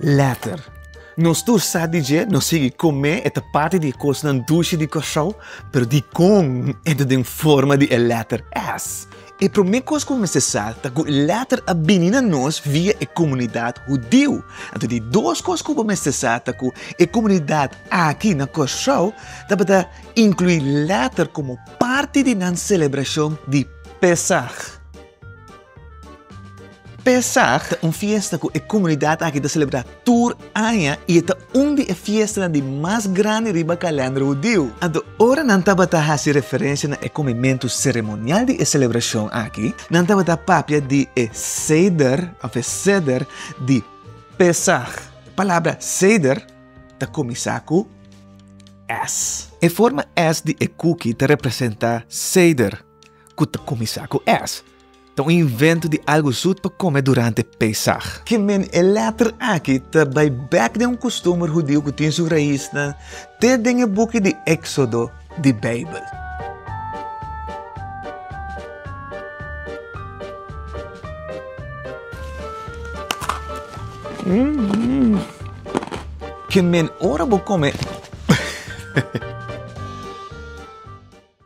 Later, nos tur sa di dje, nos sigui komé e ta parti di e kosnan dushi di Kòrsou, pero dikon e ta den forma di e lèter S? E promé kos ku bo mester sa ta ku e lèter a bini na nos via e komunidat hudiu. Anto di dos kos ku bo mester sa ta ku e komunidat aki na Kòrsou tabata inkluí lèter komo parti di nan selebrashon di Pesach. Pèsag, un fiesta ku e komunidat aki ta selebrá tur aña i e ta un di e fiestanan di mas grandi riba kalènder hudiu. Anto, ora nan tabata hasi referensia na e kumimentu seremonial di e selebrashon aki, nan tabata papia di e seder òf e seder di Pèsag. E palabra seder ta kuminsá ku s. E forma s di e kuki ta representá seder ku ta kuminsá ku s. Ta un invento di algu zoet pa come durante Pesach. Ki men e letter aki ta bay bek den un costumber hudio cu tin su raisnan te den e buki di Exodo di Bijbel. Ki men ora bo come.